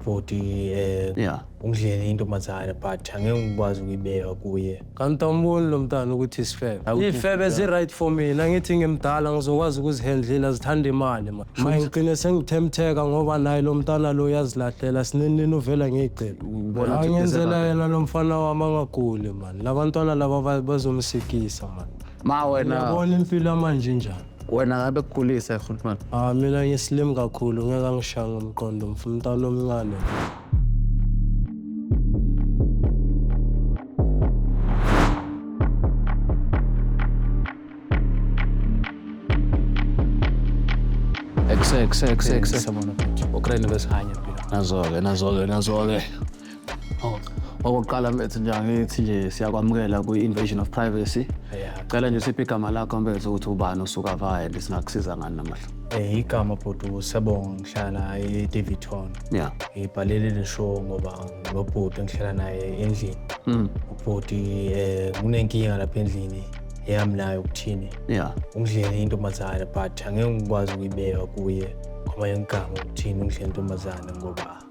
ubhuti um Yeah. ungidlele intombazane but angeke ngikwazi ukuyibeka kuye kanti awumboni lo mntana ukuthi isifebe iy'febe zi-right for mina ngithi ngimdala ngizokwazi ukuzihendlela zithanda imali ma ma ngigcine sengithemtheka ngoba naye lo mntana lo uyazilahlela sinenini uvela ngiyigcela Ubona ukuthi angenzela ugezela yena lo mfana wami angaguli mani labantwana laba ba- bazomsikisa mani Ma wena uyabona impilo yamanje njani wena ngabe kukhulisa khuluma Ah mina ngislim kakhulu ngeke angishaya ngomqondo ngifuna umntana omncane. exe exe exe exe Sabona bhuti. ukrene besihanya phela nazoke nazoke nazoke Oh. Okokuqala mfethu nje angithi nje siyakwamukela kwi-invasion of privacy. Yeah. Cela nje siphe igama lakho mfethu ukuthi ubani usuka vayende singakusiza ngani namuhla. Eh igama bhuti uSebonga ngihlala eDavidton. Yeah. Ngibhalele le show ngoba lo bhuti engihlala naye endlini. Mm. Ubhuti eh kunenkinga lapha endlini eyami nayo ukuthini. Yeah. Ungidlele intombazane but angeke ngikwazi ukuyibeka kuye ngoba yengigama ukuthini ungidlele intombazane ngoba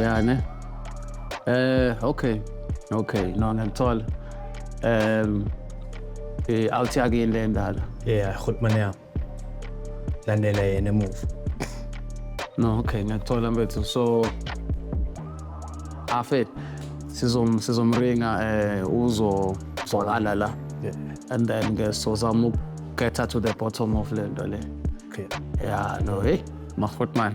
ya ne eh okay okay no ngiyakuthola um eh awuthi akuyini le ndala yeah khulumane yami landela yena emuva no okay ngiyakuthola mfethu so afet sizom sizomringa eh uzo zolala la yeah and then ke sozama ukuketha to the bottom of le nto le okay yeah no hey makhotman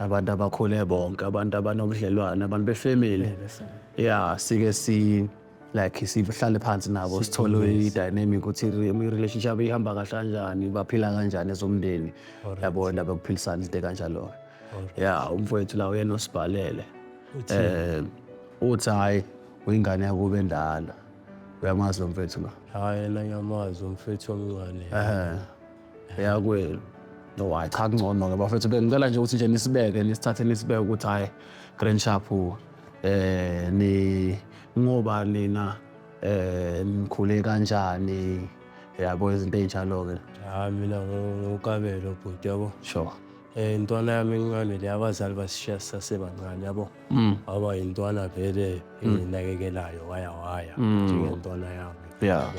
abantu abakhule bonke abantu abanobudlelwane abantu befamily ya sike si like sihlale phansi nabo sithole i-dynamic ukuthi i-relationship ihamba kahle kanjani baphila kanjani ezomndeni yabo ndaba yokuphilisana izinto kanjalo ya umfowethu la uyena osibhalele um uthi hhayi uyingane yakube endala uyamazi lo mfethu lo Hhayi yena ngiyamazi umfethu omncane. um eyakwenu no hayi cha kungcono ke bafethu bengicela nje ukuthi nje nisibeke nisithathe nisibeke ukuthi hayi grand sharp eh ni ngoba nina eh nikhule kanjani yabo izinto ezinjalo ke hayi mina ngokabelo bhuti yabo sure eh intwana yami incane le abazali basishiya sisasebancane yabo mm. aba intwana vele mm. enginakekelayo waya waya mm. njengentwana yami yeah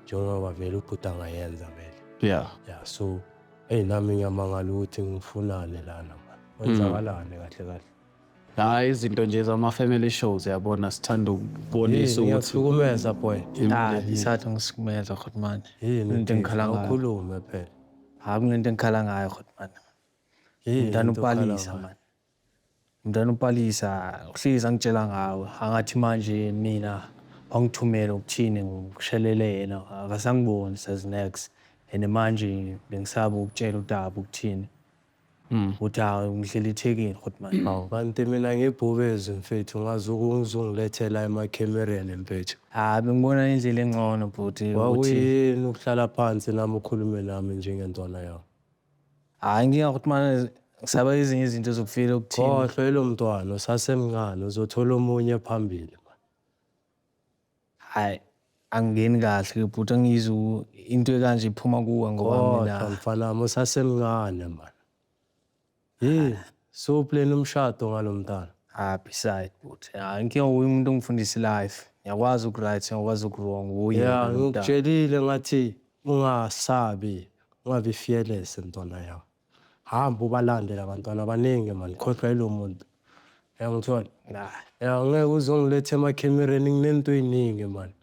njengoba vele ubhuti angayenza vele yeah yeah so eyi nami ngiyamangala ukuthi ngifunane lana mani kwenzakalani mm. kahle kahle hayi izinto nje zama-family shows yabona sithanda ukubonisa ukuthiukumeza boy isathi ah, ngisikumeza khotmane into engikhala ngayokhulume phela hayi kunento engikhala ngayo khotmane mntana upalisa mani Mntana uPalisa uhlezi angitshela ngawe angathi manje mina wangithumela ukuthini ngishelele yena akasangiboni says next and manje bengisaba ukutshela uTabu ukuthini mm. ukuthi hayi ngihleli ethekini futhi manje mm. kanti mina ngibhubezi mfethu ngazi ukungizongilethela emakhemereni mfethu hayi bengibona indlela engcono bhuti wawuyini ukuhlala phansi nami ukhulume nami njengentwana yakho Hayi nginga ukuthi manje ngisaba ezinye izinto zokufika okuthini. Khohlwa elo mntwana usasemncane uzothola omunye phambili man. Hayi angingeni kahle bhuti angiyizwa u- into ekanje iphuma kuwe ngoba Khohlwa mina mfana wami usasemncane man. Hey, so plan umshado ngalo mntana. ah beside bhuti. Hayi inkinga uye umuntu ongifundisa life. Ngiyakwazi ukuright, ngiyakwazi ukuwrong. Uye Yeah, lo mntana. ngikutshelile ngathi ungasabi. Ungabi fearless mntwana yawo. Hamba ubalande labantwana abaningi mani khohlwa yilo muntu. Uyangithola? Ya ngeke uzongiletha emakhemereni nginento eziningi mani.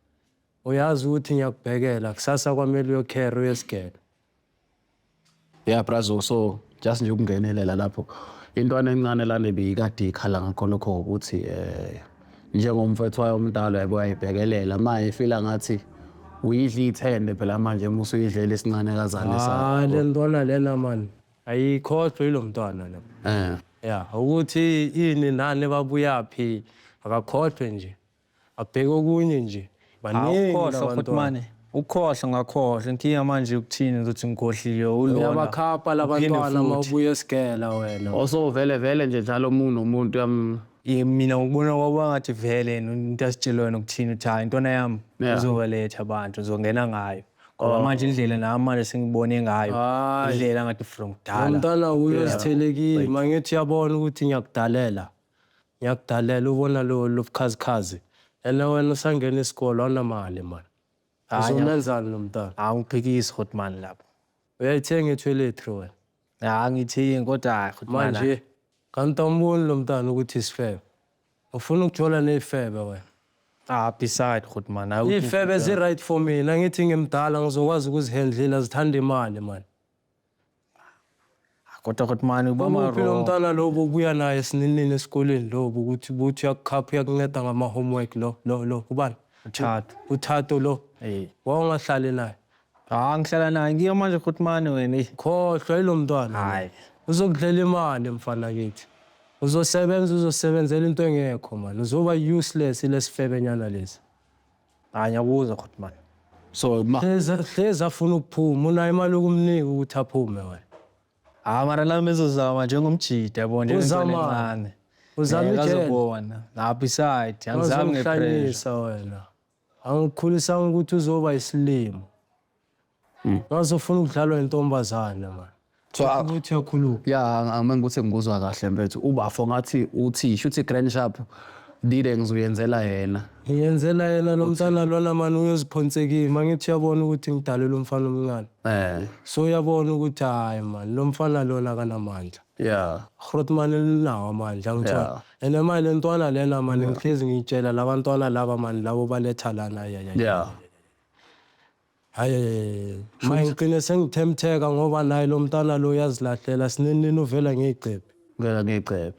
Uyazi ukuthi ngiyakubhekela kusasa kwamele uyokhere uyesigele. Yeah brazo so just nje ukungenelela lapho intwana encane lana beyikade ikhala ngakho lokho ukuthi um eh, njengomfethu wayo omdala yabo wayibhekelela ma ifila ngathi uyidla iyithende phela manje uma usuyidlela isincane kazane ah, le ntwana lena mani ayikhohlwe yilo mntwana lo um ya ukuthi ini nani babuyaphi akakhohlwe nje Abheke okunye nje. Baningi ukhohlwa futhi mane. Ukhohlwa ngakhohlwa. Inkinga manje ukuthini ukuthi ngikhohliwe ulona. Uyabakhapha labantwana uma ubuya esigela wena. Osovele vele nje njalo umuntu nomuntu yam. Mina ngikubona kwaba ngathi vele into asitshela yona ukuthini ukuthi hayi intwana yami uzobaletha abantu uzongena ngayo. Ngoba oh. manje indlela nami manje sengibone ngayo indlela ngathi from kudala. Umntana uyozithelekile mangithi uyabona ukuthi ngiyakudalela. Ngiyakudalela ubona lobukhazikhazi and wena usangena isikole awunamali man. Uzomenzani lo mntana? Angiphikisi hot man lapho. Uyayithenga etoiletry wena? Ya angithengi kodwa hot man. Manje kanti awumboni lo mntana ukuthi isifebe? Ufuna ukujola nezifebe wena? Ah beside hot man. Izifebe zi right for mina ngithi ngimdala ngizokwazi ukuzihandlela zithanda imali man. kodwa kodwa mani uba Umuphi lo mntana lo bobuya naye sininini esikoleni lo bokuthi buthi uyakukhapha uyakunceda ngama-homework lo lo lo ubani Thato. uthato lo Eh. wawungahlali naye Ah ngihlala naye ngiyo manje kodwa mani wena. eyi. khohlwa yilo mntwana Hayi. uzokudlela imali mfana kithi uzosebenza uzosebenzela into engekho mani uzoba useless lesifebenyana lesi Hayi ngiyakuza khuthi manje. So ma Hleza hleza afuna ukuphuma unayo imali yokumnika ukuthi aphume wena. Ah mara la mezozama njengomjita yabo nje Uzama. Uzama ijele. Ngazobona. Lapho iside angizami ngepressure. Uzohlanyisa wena. Angikhulisanga ukuthi uzoba isilimo. Ngaze ufuna ukudlalwa intombazana man. So a- Ukuthi uyakhuluma. ya ang- angimane ukuthi ngikuzwa kahle mfethu ubafo ngathi uthi shuthi grand sharp dile ngizuyenzela yena Ngiyenzela yena lo mntana lona man uyoziphonsekile. Mangithi uyabona ukuthi ngidalelwe umfana omncane. eh So uyabona ukuthi hayi man lo mfana lona akanamandla. ya Grootman elinawo amandla Yeah. ngithola. And manje le ntwana lena man ngihlezi ngiyitshela labantwana laba man labo baletha lana ya ya. ya Ayy Shuni ngigcine sengithemtheka ngoba naye lomntana lo uyazilahlela sinini nini uvela ngeyigcebhe. Uvela ngeyigcebhe.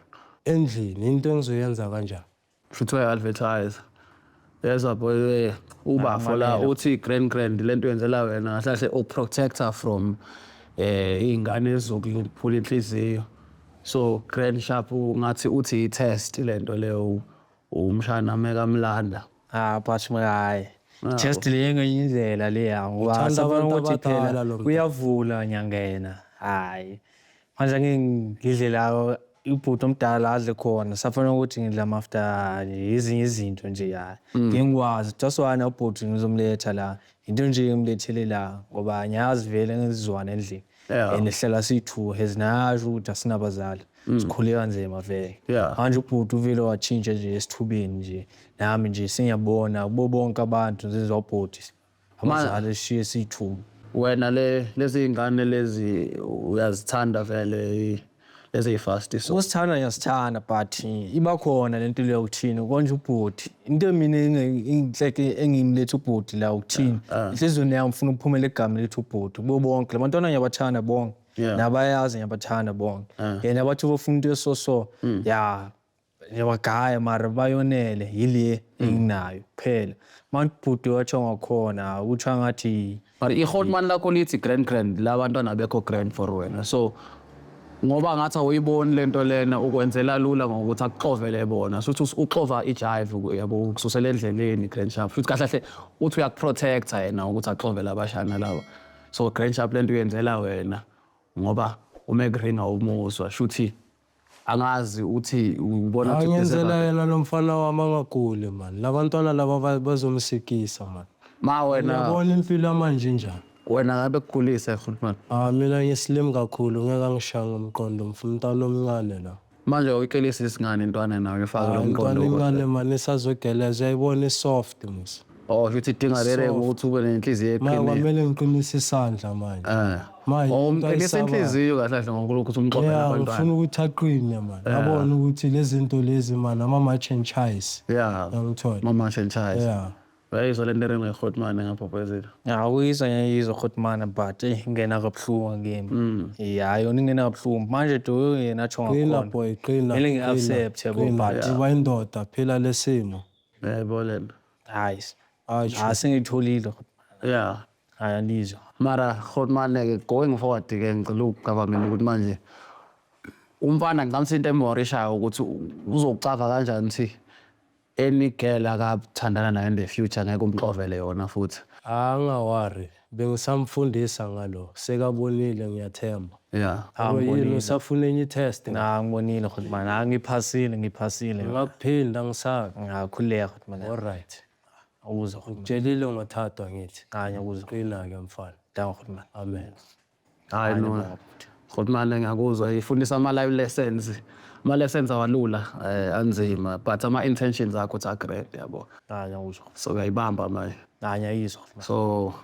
Endlini into engizoyenza kanjani. Shuthi uya advertise. Yezwa boy we ubafo la uthi grand grand lento yenzela wena kahle kahle u protector from eh izingane ezizokuphula inhliziyo. So grand sharp ngathi uthi i test lento leyo. umshana mekamlanda Ah, but my hayi. Nako. Just le ngenye indlela leya ngoba Uthanda sabona abantu ukuthi abadala phela lo mfana. uyavula nyangena. Hayi. Manje ngeke ngidle la ibhuti omdala adle khona. Safanele ukuthi ngidla mafta nje izinye izinto nje hayi. Ngingikwazi. Just why ubhuti ngizomletha la. Into nje engimlethele la ngoba ngiyazi vele ngizizwana endlini. Yeah. And sihlala siyi-two as nayasho ukuthi asinabazali. Sikhule kanzima vele. Yeah. Manje ubhuti uvele watshintsha nje esithubeni nje. Nami nje sengiyabona kubo bonke abantu ngizizwa ubhuti. Abazali sishiye siyi-two. wena le lezi ngane lezi uyazithanda vele lezi ey'fasti so Usithanda ngiyasithanda but ibakhona lento leyo ukuthini konje ubhuti into mina inhleke engimletha ubhuti la ukuthini inhliziyweni yami ngifuna ukuphumela egameni lethu ubhuti kubo bonke la bantwana ngiyabathanda bonke Yeah. nabayazi ngiyabathanda bonke yena bathi bofuna into esoso ya Ngiyabagaya mara bayonele yile hmm. enginayo kuphela. Manje ubhuti watsho ngakhona utsho ngathi But ihotman lakho lithi grand grand la bantwana bekho grand for wena. So ngoba ngathi awuyiboni lento lena ukwenzela lula ngokuthi akuxovele bona futhi uxova ijive yabo ukususela endleleni grand sharp futhi kahle kahle uthi uyakuprotecta yena ukuthi axovele abashana laba so grand sharp lento uyenzela wena ngoba umegreen awumuzwa shuthi angazi ukuthi ubona ukuthi Ngenzela yena lo mfana wami angaguli mani. Labantwana laba ba- bazomsikisa mani. ma wena Yabona impilo yamanje njani. wena ngabe kukhulise futhi manje Ah mina ngislim kakhulu ngeke angishaya ngomqondo mfuna umntana omncane la. manje uyicelisa isingane intwana nayo ifake lo Hayi, mqondo Umntwana incane mani isazogeleza uyayibona isoft musa. Oh, sho ukuthi idinga rere Soft. ukuthi ube nenhliziyo Maya eqinile. kwamele ngiqinise isandla manje. Eh. Manje, Oh, into umqinisa ayisaba- inhliziyo kahle kahle ngoNkulunkulu ukuthi umxoxe Yeah, ngifuna nabantwana. ukuthi aqine man. Yabona ukuthi lezi nto lezi man ama match and chase. Yeah. Yangithola. Mama Shenchais. Yeah. Bayizwa le nto engekhothi mane ngaphophezela. ngiyawuyizwa ngiyayizwa khotmana but eyi ngena kabuhlungu ngimi ya yona ingena kabuhlungu manje do yena atsho Qina ngakhona boy, qina. Kumele ngi-accept, qina, yabo, qina. but- Uba indoda phela lesimo. yebo le nto hayi hayi Sure. hayi sengiyitholile ya hayi andizwa mara khotmane-ke going forward ke ngicela ukucaba mina ukuthi manje umfana ngicamisa into emhorishayo ukuthi u- uzocava kanjani ukuthi any girl akathandana nayo in the future ngeke umxovele yona futhi angawari Bengisamfundisa ngalo sekabonile ngiyathemba. Ya Yabo yini angibonile. usafuna enye i-test na? Na ngibonile ukuthi man ah ngiphasile ngiphasile. Ngingakuphinda ngisabe. Ngiyakhuleka ukuthi man Alright. awuzwa ukuthi man. Ngitshelile ngothathwa ngithi. Kanye awuzwa. Qina-ke mfana. Danko ukuthi man. Amen. hayi Hayi no bo. futhi mane ngiyakuzwa ifundisa ama-live lessons ama-lessons awalula eh, anzima but ama-intentions akho ukuthi agrand yabo Hayi ngiyakuzwa. so uyayibamba manje Hayi ngiyayizwa. so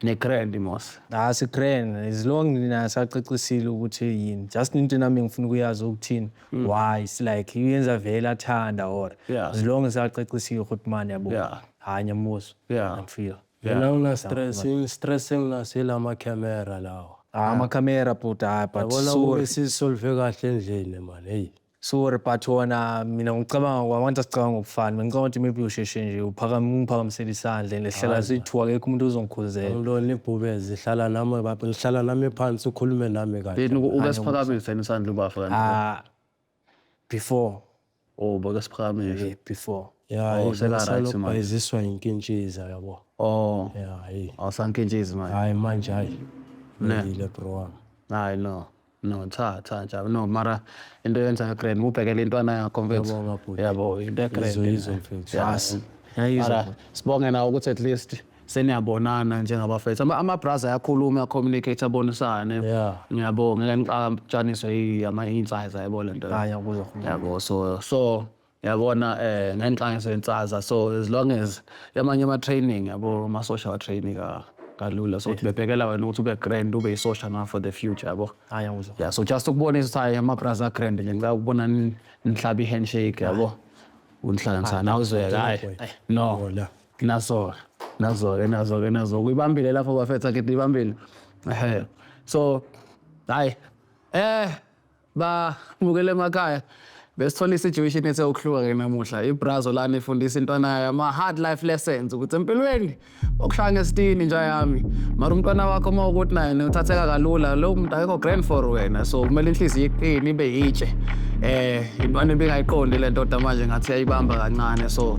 ne-grand mos Hayi sigrand as long nina sacacisile ukuthi yini. Just into nami ngifuna ukuyazi ukuthini. Why it's like uyenza vele athanda or Yeah. as long sacacisile ukuthi mani yabo. Yeah. Hayi ngiyamuzwa. Yeah. Ngiyamfeel. Yena una stress, in stress enginas ila ma camera lawa. Ah, ama camera bhuti hayi but Yabona sorry. ukuthi sisolve kahle endlini man. Hey. Sorry but wona mina ngicabanga kwabantu asicabanga ukufana. Bengicabanga ukuthi maybe usheshe nje uphakama ungiphakamisela isandla and ehlala sithu akekho umuntu ozongikhuzela. Angilona ibhubezi hlala nami baba ngihlala nami phansi ukhulume nami kahle. Yini uke siphakamise isandla ubafa kanti. Ah, before oh bake siphakamise eh before yeah oh, selaright manje iziswa inkintshiza yabo oh yeah hey awusankintshizi manje hayi manje hayi ngile bro wami hayi no no cha cha cha no mara into yenza ya grand ubhekele intwana yakho mfethu yabo into ya grand izo mfethu yes sibonge nawe ukuthi at least seniyabonana njengabafethu Ama- amabraza ayakhuluma ayacommunicate abonisane Yeah. ngiyabo ngeke niqatshaniswe yi- ama insize yabo lento Hayi, akuyo. yabo so so yabona eh ngenqangiso yensaza so as long as yamanye ama training yabo ama social training ka kalula so ukuthi bebhekela wena ukuthi ube grand ube isosha na for the future yabo Hayi, akuyo. yeah so just ukubonisa ukuthi hayi ama braza grand nje ngicela ukubona ni- nihlaba i handshake yabo unihlanganisana awuzweka hayi no Hola. naso-ke nazo-ke nazo-ke nazo uyibambile lapho bafetha kithi ibambile ehe so hayi eh bamukele emakhaya besithola i-situation ethe ukuhluka-ke namuhla ibrazo lana ifundisa intwana yayo ama-hard life lessons ukuthi empilweni okushaya ngesitini nja yami mara umntwana wakho uma ukuthi naye uthatheka kalula lo muntu akekho grand for wena so kumele inhliziyo iqini ibe yitshe um intwana ebingayiqondi le ndoda manje ngathi yayibamba kancane so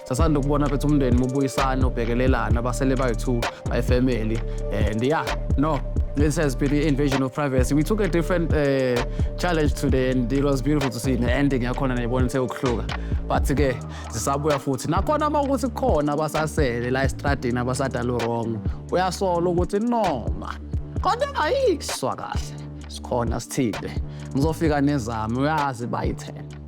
Sasanda ukubona bethu umndeni mubuyisana ubhekelelana abasele bayi-two bayifamily and yeah no this has been the invasion of privacy we took a different uh, challenge today and it was beautiful to see ne-ending yakhona nayibona ithe ukuhluka but-ke zisabuya futhi nakhona uma ukuthi kukhona abasasele la estradini abasadala urong uyasola ukuthi noma kodwa engayiswa kahle sikhona sithile ngizofika nezami uyazi bayithena